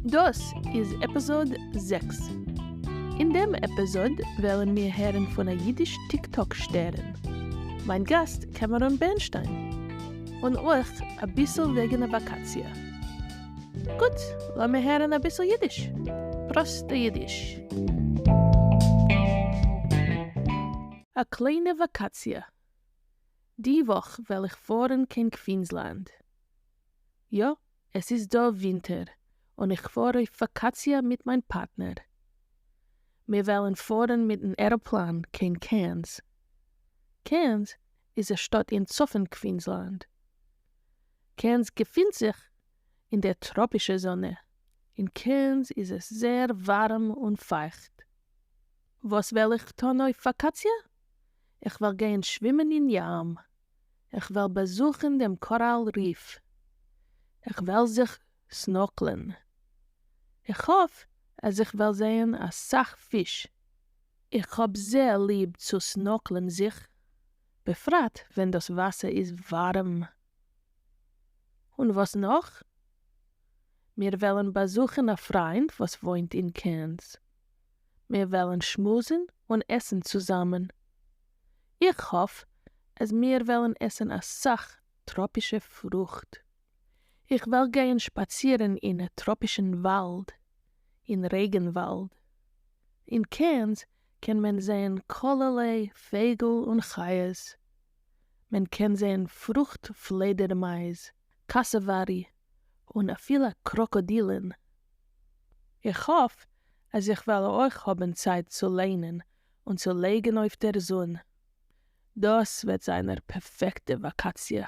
דאס איז עפיזאד זעקס. אין דעם עפיזאד וועלן מיר הערן פון א אידיש טיק טאק שטערן, מיין גאסט קעמעראן בערנשטיין, און אויך אביסל וועגן א וואקאציע. גוט, לאמיר הערן אביסל אידיש. פראסטע אידיש. א קליינע וואקאציע. די וואך וועל איך פארן קיין קווינזלענד. יא. עס איז דא ווינטער און איך פאר אויף וואקאציע מיט מיין פארטנער. מיר וועלן פארן מיטן עראפלאן קיין קעירנס. קעירנס איז א שטאט אין צפון קווינזלאנד. קעירנס געפינט זיך אין דער טראפישער זאנע. אין קעירנס איז עס זעהר ווארעם און פייכט. וואס וועל איך טון אויף וואקאציע? איך וועל גייען שווימען אין ים. איך וועל באזוכן דעם קאראל ריף, איך וועל זיך סנארקלען, איך האף אז איך וועל זעהן אסאך פיש, איך האב זייער ליב צו סנארקלען זיך, בפרט ווען דאס וואסער איז ווארעם. און וואס נאך? מיר וועלן באזוכן א פריינט וואס וואוינט אין קערנס. מיר וועלן שמועסן און עסן צוזאמען. איך האף אז מיר וועלן עסן אסאך טראפישע פרוכט. איך וועל גייען שפאצירן אין טראפישן וואלד, אין רעגנוואלד. אין קעירנס קען מען זען כלערליי פייגל און חיות. מען קען זען פרוכט פלעדערמייז. קאסאווארי און אפילו קראקאדילן. איך האף אז איך וועל אויך האבן צייט צו ליינען און צו לייגן אויף דער זון. דאס וועט זיין א פערפעקטע וואקאציע.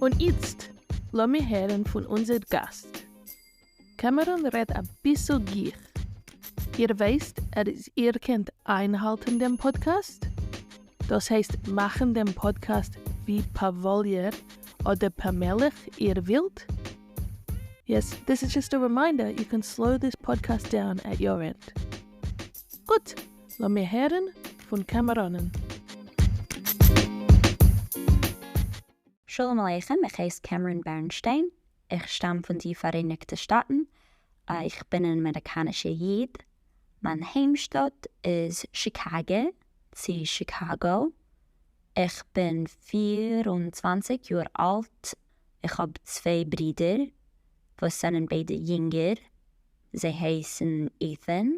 און איצט לאמיר הערן פון אונזער גאסט. קעמעראן רעדט אביסל גיך. איר ווייסט אז איר קענט איינהאלטן דעם פאדקעסט? דאס הייסט מאכן דעם פאדקעסט ווי פאוואליער אדער פאמעליך איר ווילט? יעס, דיס איז דזשאסט א רימיינדער יו קען סלאו דיס פאדקעסט דאון עט יור ענד. גוט! לאמיר הערן פון קאמאראנען. שלום עליכם, איך הייס קעמרען בערנשטיין, איך שטאם פון די פאראייניגטע שטאטן, איך בין אן אמעריקאנישער איד, מיין היימשטאט איז שיקאגע, צו שיקאגאו, איך בין פֿיר און צוואַנציק יאר אלט, איך האב צוויי ברידער וואס זענען ביידע יונגער, זיי הייסן איטהען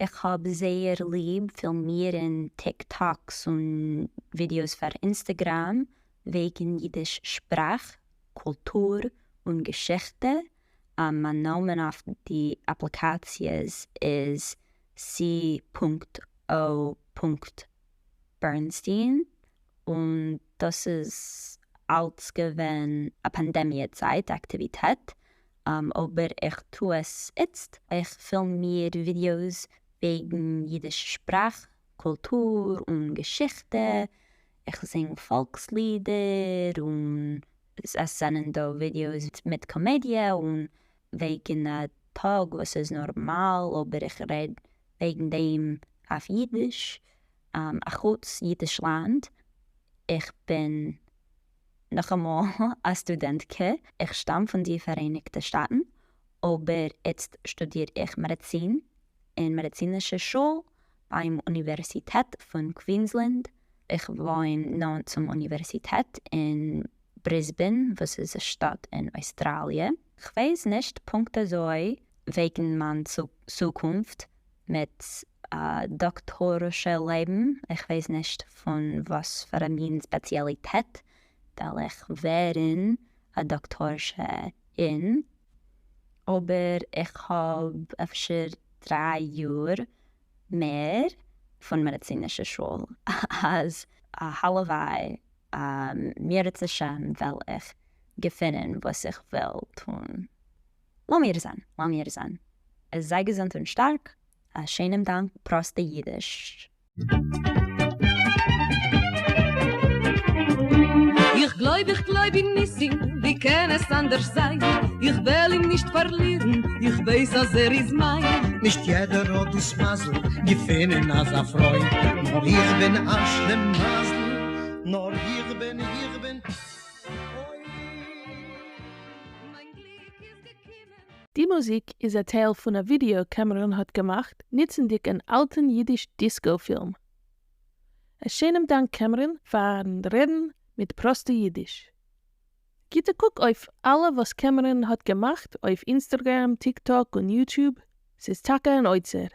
איך האב זייער ליב פילמירן טיק טאקס און ווידיאוס פאר אינסטעגראם וועגן אידיש שפראך, קולטור, און געשיכטע, מיין נאמען אויף די אפליקאציעס איז סי. או. בערנסטין, און דאס איז אלץ געווען א פאנדעמיע צייט אקטיוויטעט, אבער איך טו עס איצט, איך פילם מיר ווידיאוס וועגן אידיש שפראך, קולטור און געשיכטע, איך זינג פאלקס לידער, און עס זענען דא ווידיאוס מיט קאמעדיע און וועגן א טאג וואס איז נארמאל אבער איך רעד וועגן דעם אויף אידיש, אחוץ אידישלאנד, איך בין נאכאמאל א סטודענט ק, איך שטאם פון די פאראייניגטע שטאטן, אבער איצט שטודיר איך מעדעצין אין מעדעצינישע שול ביים אוניווערסיטעט פון קווינסלענד, איך וואוין נאנט צום אוניווערסיטעט אין בריסבען וואס איז א שטאט אין אויסטראליע, כ'ווייס נישט פונקט אזוי וועגן מיין צוקונפט, מיט א דאקטארישע לעבן, איך ווייס נישט פון וואס פאר א מין ספעציאליטעט וועל איך ווערן א דאקטארשע אין, אבער איך האב אפשר דריי יאר מער פון מעדיצינישע שול, אז הלוואי מיר רצה השם וועל איך געפינען וואס איך וויל טון לאמיר זען, לאמיר זען. זיי געזונט און שטארק. א שענעם דאנק, פראסטע אידיש. איך גלויב איך גלויב אין ניסים ווי קען עס אנדערש זיין איך וועל אים נישט פארלירן איך ווייס אז ער איז מיין. נישט יעדער האט דאס מזל געפינען אזא פרוי נאר איך בין אש ל מזל נאר איך בין איך בין אוי מיין גליק. די מוזיק איז א טייל פון א ווידעא קעמעראן האט געמאכט ניצענדיג אן אלטען אידיש דיסקאו פילם. א שענעם דאנק קעמעראן פארן רעדן מיט פראסטע אידיש. גיט א קוק אויף אלע וואס קעמעראן האט געמאכט אויף אינסטערגרעם, טיקטאק און יוטוב, ס'איז טאקע אן אוצר.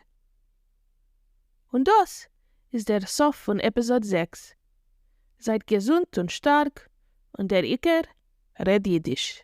און דאס איז דער סוף פון עפיזאד זעקס. זייט געזונט און שטארק, און דער עיקר, רעד אידיש.